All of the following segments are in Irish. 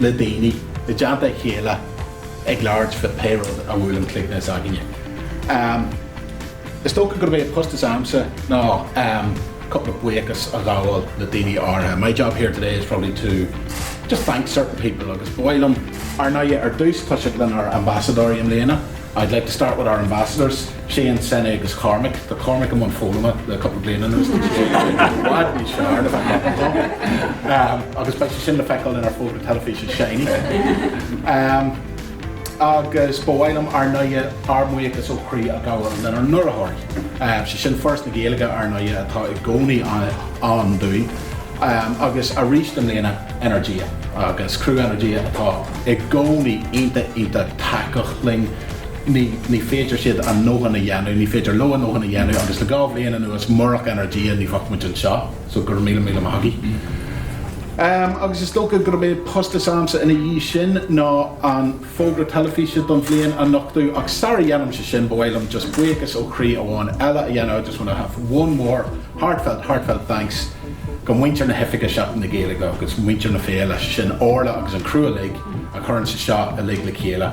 le daoine i dteannta a chéile ag labhairt faoi pé rud a bhuaileann cloigne s'againne. Is dócha gurb é an post s'agamsa ná cúpla buíochas a ghabháil le daoine áirithe. My job here today is probably to just thank certain people agus ba mhaith liom, ar ndóighe, ar dtús toiseacht lenár n-ambasadóirí i mbliana. I'd like to start with our ambassadors. Séaghan, Sene agus Cormac. Tá Cormac i mbun foghlama le cúpla bliain anuas, tá sé i bhfad níos fearr le bheith maith aici agus beidh sé sin le feiceáil inár bhfógra teilifíse shiny. Agus ba mhaith liom ar ndóighe, ár mbuíochas ó chroí a ghabháil lenár n-urraitheoirí, sé sin Foras na Gaeilge, ar ndóighe atá i gcónaí ann dúinn agus arís i mbliana Energia agus criú Energia atá i gcónaí iontach iontach tacúil linn. ní, ní féidir siad a ndóthain a dhéanamh, ní féidir leo a ndóthain a dhéanamh agus le dhá bhliain anuas murach Energia ní bheadh muid anseo so go raibh míle, míle maith agaibh. Ehm agus is dócha gurb é post s'agamsa ina dhiaidh sin ná an fógra teilifíse don bhliain a nochtadh ach sara dhéanaimse sin ba mhaith liom just buíochas ó chroí amháin eile a dhéanamh I just want to have one more heartfelt, heartfelt thanks go muintir na hoifige Seachtain na Gaeilge agus muintir na féile, sin Orla agus an criú uilig a chuireanns seo uilig le chéile.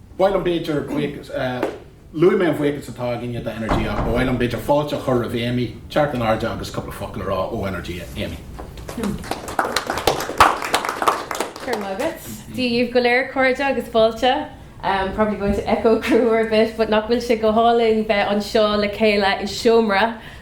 Ba mhaith liom b'fhéidir buíochas, luaigh mé an buíochas atá againne do Energia ach ba mhaith liom b'fhéidir fáilte a chur roimh Amy, teacht in airde agus cúpla focal a rá ó Energia. Amy. Go raibh maith agat. Dia daoibh go léir a chairde agus fáilte. I'm probably going to echo Cearbhall a bit but nach bhfuil sé go hálainn bheith anseo le chéile i seomra,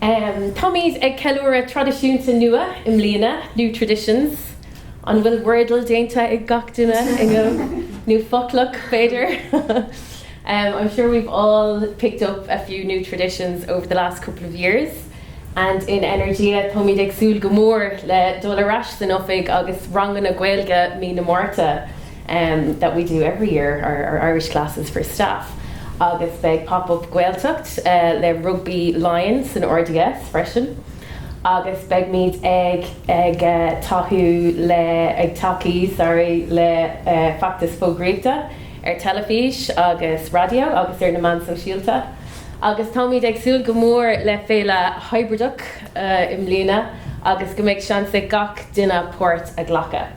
Táimid ag ceiliúradh traidisiúnta nua i mbliana, new traditions. An bhfuil Wordle déanta ag gach duine inniu? Nó Foclach b'fhéidir? I'm sure we've all picked up a few new traditions over the last couple of years and in Energia táimid ag súil go mór le dul ar ais san oifig agus ranganna Gaeilge mí na Márta. that we do every year, our our Irish classes for staff agus beidh Pop Up Gaeltacht le Rugbaí Laighean san RDS freisin agus beidhmid ag ag tacú le ag tacaí sorry le feachtas fógraíochta ar teilifís agus raidió agus ar na meán sóisialta agus táimid ag súil go mór le féile hibrideach i mbliana agus go mbeidh seans ag gach duine páirt a ghlacadh.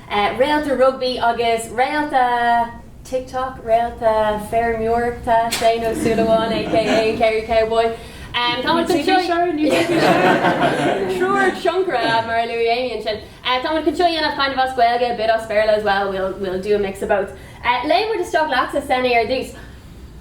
Réalta rugbaí agus réalta TikTok, réalta feirmeoireachta, Séaghan Ó Súilleabháin aka Kerry Cowboy. Tá muid chun seo a dhéanamh as Gaeilge a bit as Béarla as well, we'll do a mix of both. Léimfidh muid isteach leatsa, Sene, ar dtús.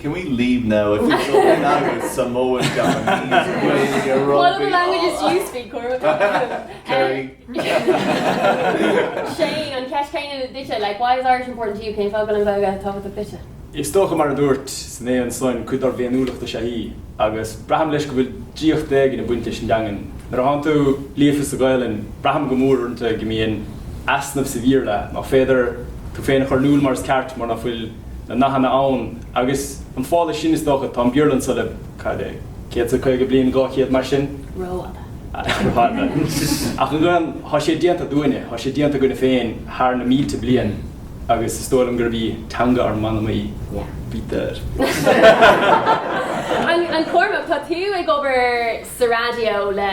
Can we leave now if you don't in Irish, Samoan, Japanese, Gaeilge, Rugby, What other languages do you speak, Cormac? Kerry. Séaghan, an cheist chéanna duitse, like, why is Irish important to you? Cén fáth go bhfuil an Ghaeilge tábhachtach duitse? Is dócha, mar a dúirt Sene ansan, cuid dár bhféiniúlacht is ea í, agus braithim leis go bhfuil draíocht éigin ag baint leis an dteangain. Nuair a ná tánn tú líofa sa Ghaelainn, braithim go mórmhór go mbíonn easnamh sa Bhéarla, ná féidir tú féin a chur in iúl mar is ceart, mar ná fuil. na nathanna ann agus an fáth leis sin is dócha tá an Béarla anso le cad é céad is caoga bliain dhá chéad mar sin rófhada ach an Ghaelainn thá sé déanta dúinne thá sé déanta againne féin thar na mílte bliain agus is dóigh liom gurb í teanga ár manam í b'fhéidir an Cormac tá tú ag obair sa radio le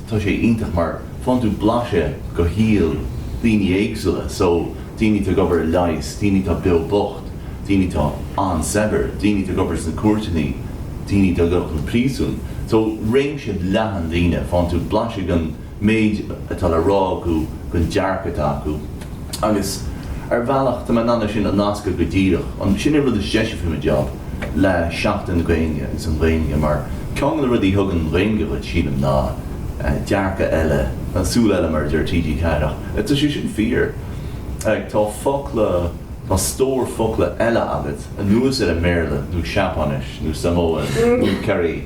Tá sé iontach mar faigheann tú blaiseadh de shaol daoine éagsúla, so daoine atá ag obair i leigheas, daoine atá beo bocht, daoine atá an-saibhir, daoine atá ag obair sna cúirteanna, daoine atá gafa i bpríosún, so réimse leathan daoine, faigheann tú blaiseadh den méid atá le rá acu, den dearcadh atá acu. Agus ar bhealach tá mé in ann é sin a nascadh go díreach ansin, sin an rud is deise faoi mo job, le Seachtain na Gaeilge agus an Ghaeilge mar ceann de na rudaí a thugann an Ghaeilge dhuit, sílim, ná dearcadh eile, súil eile mar a deir TG4 ach tá sé sin fíor, like tá focla, tá stór focla eile agat anuas ar an mBéarla nó Seapáinis nó Samoan nó cibé.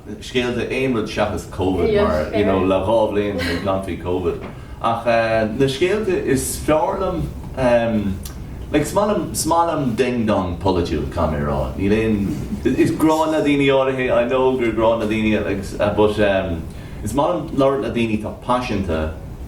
scéalta aon rud seachas Covid mar you know le dhá bhliain ag caint faoi Covid ach na scéalta is fearr liom em like is maith liom is maith liom ding dong polaitiúil caithfidh mé a rá níl aon is gráin le daoine áirithe I know gur gráin le daoine agus but em is maith liom labhairt le daoine atá paiseanta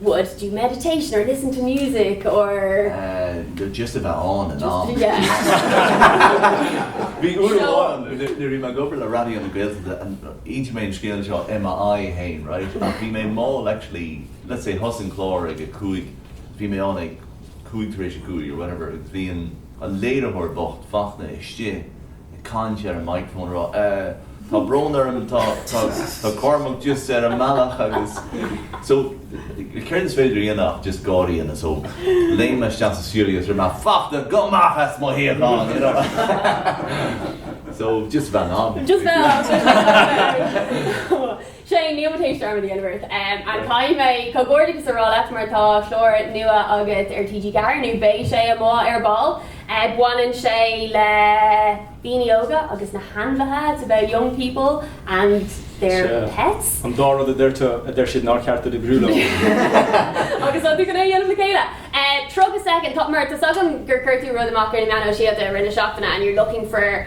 would do meditation or listen to music or. do just a bheith ann in am bhí uair amháin nuair a bhí mé ag obair le Raidió na Gaeltachta and inseoidh mé an scéal seo i m'aghaidh féin right ach bhí mé mall actually let's say thosaigh an clár ag a cúig bhí mé ann ag cúig tar éis a cúig or whatever agus bhí an léiritheoir bocht Fachtna istigh caint ar an microphone ag rá. Tá brón orm, tá, tá, tá Cormac just ar an mbealach agus so céard is féidir a dhéanamh ach just gáirí and so léim mé isteach sa stiúideo agus dúirt mé Fachtna gabh amach as mo shuíochán, you know. So just bheith ann. Just bheith ann. Shane, níl mo thuiscint arm of the universe a'm ach caithfidh mé comhghairdeachas a rá leat mar tá clár nua agat ar TG4 nó beidh sé amuigh ar ball. Baineann sé le daoine óga agus na hainmhithe, it's about young people and their pets. Sea, an dá rud a deir tú, a deir siad nár cheart duit oibriú leo. Agus tá tú chun é a dhéanamh le chéile. 30 soicind, tá, mar tá 's agam gur chuir tú rud amach ar na meáin shóisialta i rith na seachtaine and you're looking for,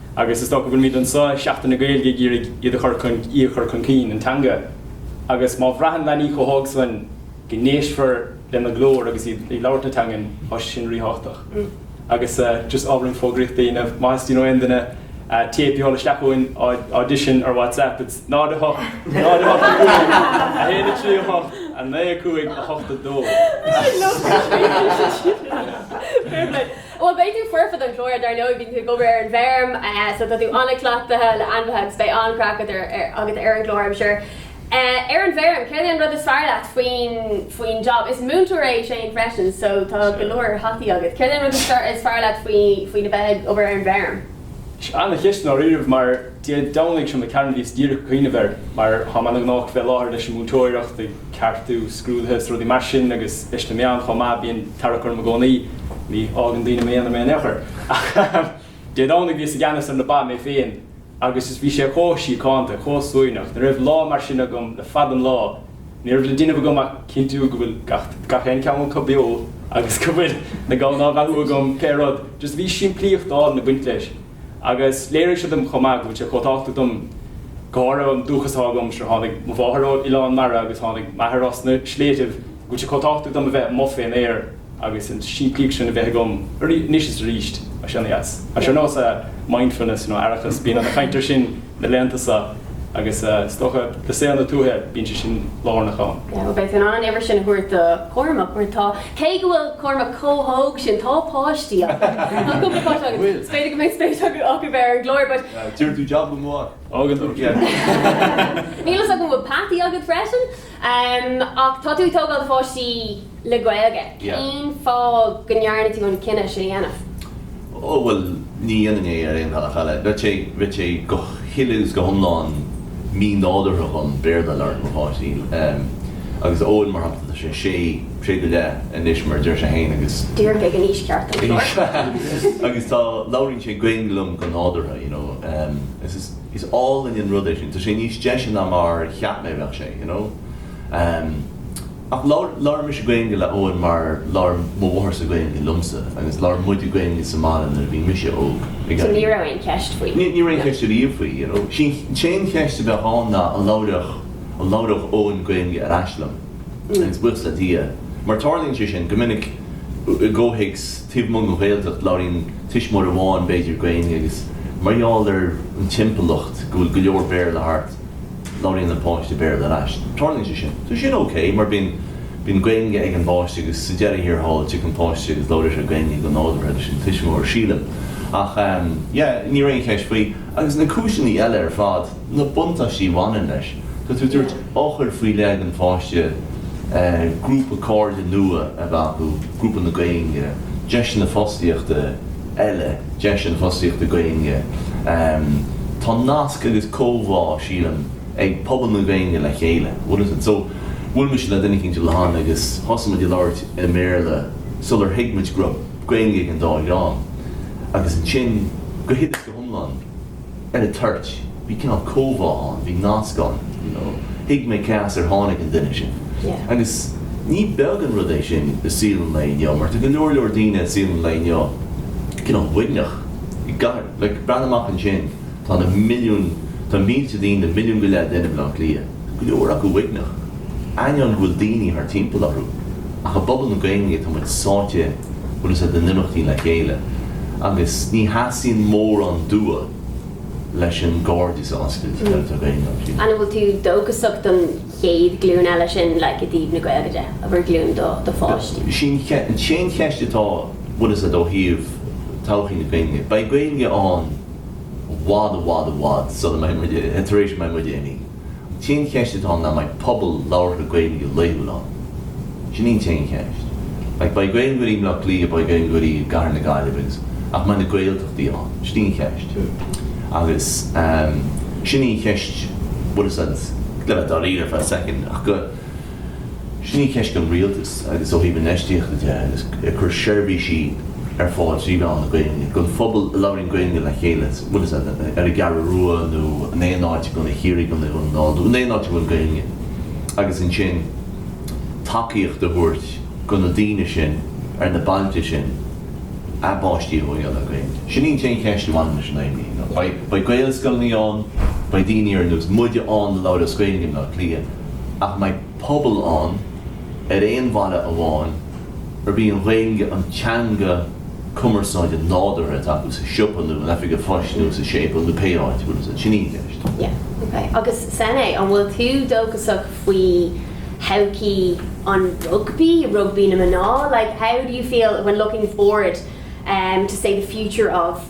Agus is dócha go bhfuilimid anso ag Seachtain na Gaeilge ag iarraidh iad a chur chun, í a chur chun cinn, an teanga. Agus má bhraitheann leanaí chomh hóg soin go n-éistfear lena glór agus iad ag labhairt na teangan, tá sé sin ríthábhachtach. Agus eh, just ábhairín fógraíochta a dhéanamh, má theastaíonn ó aon duine téip a sheoladh isteach chugainn, á audition ar WhatsApp, it's 08 08 5 1 3 8 9 5 8 2. Sin nó, scríobhann siad sin. Fair play. Bhuel, beidh tú foirfe don chlár, dar ndóigh. Bíonn tú ag obair ar an bhfeirm, so tá tú an-chleachtaithe le ainmhithe agus beidh an-craic agat ar an gclár, I'm sure. Ar an bhfeirm, céard é an rud is fearr leat faoin job? Is múinteoir é Shane freisin, so tá go leor hataí agat. Céard é an rud is fearr leat faoi a bheith ag obair ar an bhfeirm? Ana-cheist, dáiríribh, mar. Dé Domhnaigh seo caite bhíos díreach ag cuimhneamh air mar táim ana-ghnóthach fé láthair leis an múinteoireacht, ag ceartú scrúduithe is rudaí mar sin agus leis na meáin chomh maith, bíonn tarrac orm i gcónaí, ní fhágann daoine im aonar mé in aon chor. Ach Dé Domhnaigh bhíos i gceannas ar na ba mé féin agus is bhí sé chomh síochánta, chomh suaimhneach, ní raibh lá mar sin agam le fada an lá, ní raibh le déanamh agam ach cinntiú go bhfuil gach aon cheann acu beo agus go bhfuil na gamhna á bheathú agam, pé rud, just bhí simplíocht álainn ag baint leis. agus léirigh sé dom chomh maith go bhfuil sé chomh tábhachtach dom go háirithe an dúchas atá agam, sure tháinig mo mháthair ó oileán mara agus tháinig m'athair as na sléibhtibh, go bhfuil sé chomh tábhachtach dom a bheith amuigh fén aer agus an simplíocht sin a bheith agam anois is aríst. Tá sé ar nós mindfulness, nó aireachas, bíonn ana-chaint ar sin. na laethanta seo agus is dócha i saol na tuaithe bíonn sé sin lárnach ann. Beidh tú in ann an uimhir sin a thabhairt do Chormac mar tá, cé go bhfuil Cormac chomh hóg sin, tá páistí acu, tá cúpla páiste acu, is b'fhéidir go mbeidh spéis acu ar an gclár but. Deireann tú jab go maith. Níl fhios agam an bhfuil peataí agat freisin? Em, ach tá tú ag tógáil pháistí le Gaeilge, Yeah. cén fáth go ndearna tú an cinneadh sin a dhéanamh? Ó, bhuel, ní dhéanfainn é ar aon bhealach eile. Bheadh sé, bheadh sé go huile is go hiomlán mí-nádúrtha dhom Béarla a labhairt le mo pháistí. Em, agus Eoin, mar shampla, tá sé sé, sé go leith anois, mar a deir sé fhéin, agus, Díreach ag an aois cheart, don gclár. agus tá, labhraíonn sé Gaeilge liom go nádúrtha, you know. Em, is, is. is álainn an rud é sin. Tá sé níos deise ná mar a cheap mé a bheadh sé, you know. Em, ach labhair, labhair mise Gaeilge le Eoin mar labhair mo mhátharsa Gaeilge liomsa agus labhair muide Gaeilge sa mbaile nuair a bhí mise óg, So ní raibh aon cheist faoi? Ní, ní raibh aon cheist ariamh faoi, you know. Sin, sén cheist a bheadh ann ná an labhródh, an labhródh Eoin Gaeilge ar ais liom. Agus buíochas le Dia, mar tarlaíonn sé sin go minic i gcomhthéacs, Taobh amuigh den Ghaeltacht, labhraíonn tuismitheoir amháin, b'fhéidir, Gaeilge agus mar gheall ar an timpeallacht go bhfuil go leor Béarla thart, labhraíonn an páiste Béarla ar ais. Tarlaíonn sé sin. Tá sin ok mar bíonn bíonn Gaeilge ag an bpáiste agus sa deireadh thiar thall tig an páiste agus labhraíonn sé Gaeilge go nádúrtha leis an tuismitheoir, sílim. Ach yeah, ní raibh aon cheist faoi. Agus na cúiseanna eile ar fad. na buntáistí a bhaineann leis. Tá tú ag tabhairt eochair faoi leith don pháiste, grúpa cairde nua a bheith acu, grúpa na Gaeilge, deiseanna fostaíochta eile, deiseanna fostaíochta Gaeilge. Tá nasc agus comhbhá, sílim, ag pobal na Gaeilge le chéile. So, bhuail mise le duine éicint an lá cheana agus thosaigh muid ag labhairt i mBéarla sular thuig muid go raibh Gaeilge ag an dá dhream agus ansin, go huile is go hiomlán, ar an toirt. Bhí cineál comhbhá ann, bhí nasc ann, you know, thuig mé cé as ar tháinig an duine sin. Agus ní beag an rud é sin i saol an lae inniu mar tá go leor leor daoine i saol an lae inniu cineál uaigneach, i gcathair, like, breathnaigh amach ansin, tá na milliúin, tá mílte daoine, milliún go leith duine i mBleá Cliath. go leor acu uaigneach, ainneoin go bhfuil daoine thart timpeall orthu, ach i bpobal na Gaeilge tá muid sáite go bunúsach in imeachtaí le chéile agus ní theastaíonn mórán dua leis an gcairdeas a oscailt, le Gaeilge. An, an bhfuil tú dóchasach don chéad ghlúin eile sin like i dtaobh na Gaeilge de, abair glúin do do pháistí? Sin an cheist atá go bunúsach ó thaobh todhchaí na Gaeilge. Beidh Gaeilge ann. bhfad, i bhfad, i bhfad sula mbeidh muid, tar éis a mbeidh muide imithe. An t-aon cheist atá ann ná mbeidh pobal labhartha Gaeilge laethúil ann? Sin í an t-aon cheist. Like, beidh Gaeilgeoirí i mBleá Cliath, beidh Gaeilgeoirí i gCathair na Gaillimhe agus, ach mbeidh na Gaeltachtaí ann? Sin í an cheist. Agus ehm, sin í an cheist, bhfuil fhios a'd, le bheith dáiríre for a second, ach go, Sin í ceist gon rialtas agus ó thaobh infheistíochta de agus ag cur seirbhísí ar fáil trí mheán na Gaeilge don phobal a labhraíonn Gaeilge le chéile, bíodh sé ar an gCeathrú Rua nó in aon áit i gContae Chiarraí nó i nDún na nGall nó in aon áit a bhfuil Gaeilge agus ansin tacaíocht a thabhairt go na daoine sin ar na bailte sin a bpáistí a thógáil le Gaeilge. Sin í an t-aon cheist a bhaineann leis inniu. Beidh Gaelscoileanna ann, beidh daoine ar nós muide ann a labhróidh as Gaeilge in Áth Cliath, Ach mbeidh pobal ann ar aon bhaile amháin arb í an Ghaeilge an teanga cumarsáide nádúrtha atá acu sa siopa nó in oifig an phoist nó sa séipeal nó pé áit a bhfuil siad. Sin í an cheist. Yeah, ok. Agus sin é, an bhfuil tú dóchasach faoi thodhchaí an rugbaí, rugbaí na mná? Like, how do you feel when looking forward to, say, the future of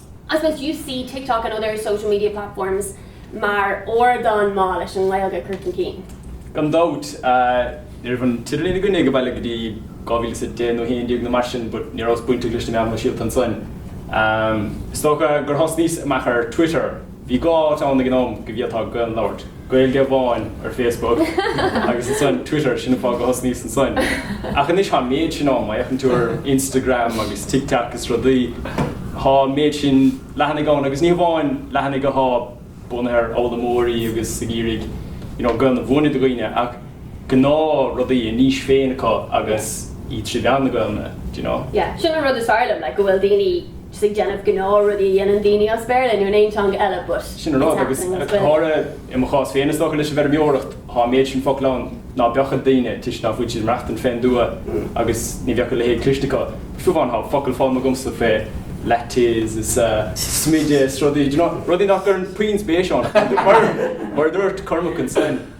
I suppose you see TikTok and other social media platforms mar ardán maith leis an nGaeilge a chur chun cinn? Gan dabht. Ní raibh an t-idirlíon againne ag an baile go dtí dhá mhíle a deich nó a haon déag nó mar sin but ní rabhas bainteach leis na meáin shóisialta ansan. Is dócha gur thosnaíos amach ar Twitter. Bhí dhá áit ann ag an am go bhféadfá Gaelainn a labhairt, Gaeilge amháin ar Facebook agus ansan Twitter, sin an fáth go thosnaíos ansoin. Ach anois tá an méid sin ann, má fhéachann tú ar Instagram agus TikTok is rudaí, tá an méid sin leathanaigh ann agus ní hamháin leathanaigh athá bunaithe ar fhoghlaimeoirí agus ag iarraidh you know Gaelainn a mhúineadh do dhaoine ach gnáth rudaí, a n-aois féin acu agus iad trí mheán na Gaelainne, do you know? Yeah, sin an rud is fearr liom, like go bhfuil daoine. just ag déanamh gnáth rudaí a dhéanann daoine as béarla nó in aon teanga eile but it's happening as Gaeilge. Sin an rud, agus go háirithe i mo chás féin, is dócha leis an bhfeirmeoireacht, tá an méid sin focal ann ná beadh ag daoine, toisc ná fuil siad ag maireachtaint fén dtuath agus ní bheadh a leithéid cloiste acu. Fiú amháin tá focail foghlamtha agamsa fé lattes is smideadh is rudaí, do you know, rudaí nach gcuirim puinn spéis ann ach mar a dúirt Cormac ansin,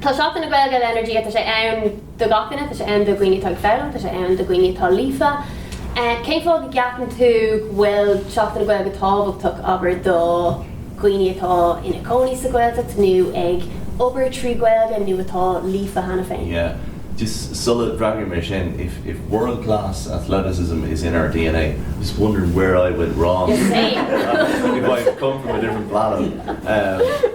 Tá Seachtain na Gaeilge le Energia, tá sé ann do gach duine, tá sé ann do dhaoine atá ag foghlaim, tá sé ann do dhaoine atá líofa. Cén fáth go gceapann tú go bhfuil Seachtain na Gaeilge tábhachtach, abair, do dhaoine atá ina cónaí sa Ghaeltacht nó ag obair trí Ghaeilge nó atá líofa cheana féin? Yeah. Just sula bhfreagraím ar sin, if if world class athleticism is in our dna, just wondering where I went wrong, if I've come from a different planet.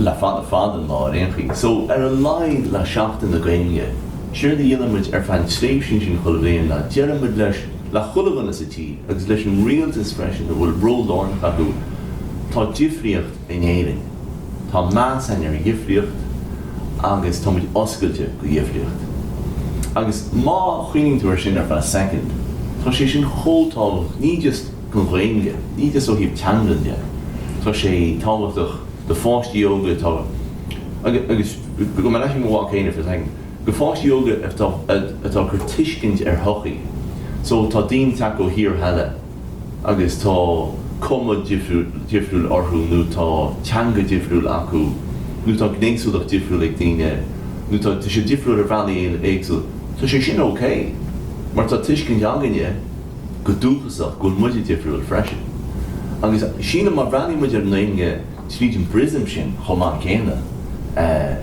le fada fad an lá ar aon chaoi. So, ar a laghad le Seachtain na Gaeilge, séard a dhéanann muid ar feadh an tréimhsí ansin chuile bhliain ná deireann muid leis, le chuile dhuine sa tír agus leis an rialtas freisin a bhfuil ról lárnach acu. Tá difríocht in Éirinn. Tá meas againn ar dhifríocht agus tá muid oscailte go dhifríocht. Agus má chuimhníonn tú ar sin ar feadh soicind, tá sé sin chomh tábhachtach, ní just. an Ghaeilge, ní just ó thaobh teanga de, tá sé tábhachtach do pháistí óga atá, agus go mba le mo mhac féin a for second, go pháistí óga atá atá cur tuiscint ar shochaí so tá daoine teacht ó thíortha eile agus tá cuma difriúil difriúil orthu nó tá teanga difriúil acu nó tá gnéasúlacht difriúil ag daoine nó tá siad difriúil ar bhealaí éagsúla, tá sé sin ok mar tá tuiscint againne. go dúchasach, go bhfuil muide difriúil freisin. Agus sílim má bhreathnaíonn muid ar an nGaeilge tríd an bpriosm sin chomh maith céanna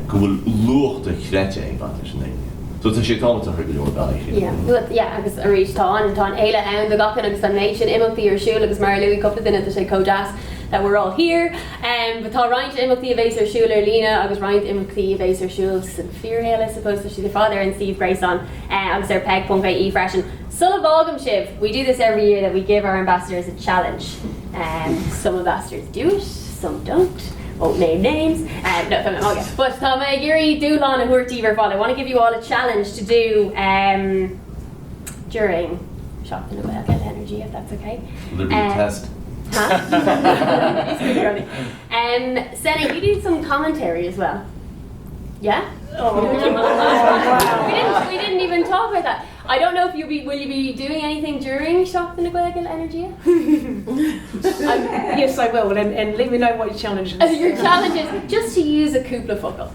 go bhfuil luach dochreidte ag baint leis an nGaeilge. So tá sé tábhachtach ar go leor bealaí sílim. Yeah, yeah agus arís tá an tá an fhéile ann do gach duine agus tá an méid sin imeachtaí ar siúl agus mar a luaigh cúpla duine tá sé chomh deas that we're all here. But tá roinnt imeachtaí a bheas ar siúl ar líne agus roinnt imeachtaí a bheas ar siúl sa fíorshaol I suppose tá siad ar fad ar an suíomh gréasáin agus ar peig.ie freisin. Sula bhfágaim sibh, we do this every year that we give our ambassadors a challenge. Some ambassadors do it, some don't, won't name names. No, tá mé ag magadh. But tá mé ag iarraidh dúshlán a thabhairt daoibh ar fad, I want to give you all a challenge to do um during Seachtain na Gaeilge, an energy if that's okay. Will there be a test? Senna, you do some commentary as well. Yeah? We didn't even talk about that. I don't know if you'll be, will you be doing anything during Seachtain na Gaeilge le Energia? I'm, yes I will and, and let me know what your challenge is. Your challenge is just to use a cúpla focal.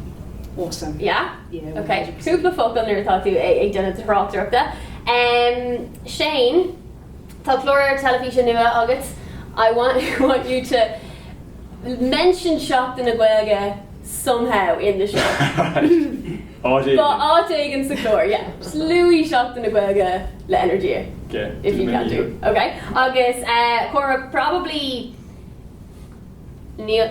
Awesome. Yeah? Yeah. Okay. Cúpla focal nuair atá tú ag duna aráachtarachta. Um, Shane, Tá chlóir television nua agus I want, want you to mention Seachtain na Gaeilge somehow in the show. Áit éigin sa chlár, yeah. Just luaigh Seachtain na Gaeilge le Energia. Okay, If you can do. Okay. Agus eh Cora, probably níl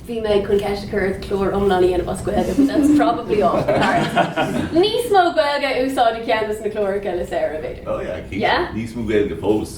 bhí mé chun ceist a chur clár iomlán a dhéanamh as Gaeilge, but that's probably off the cards. Níos mó Gaeilge a úsáid i gceann dos na cláracha le Sarah, b'fhéidir. Oh yeah, Yeah? níos mó Gaeilge fós.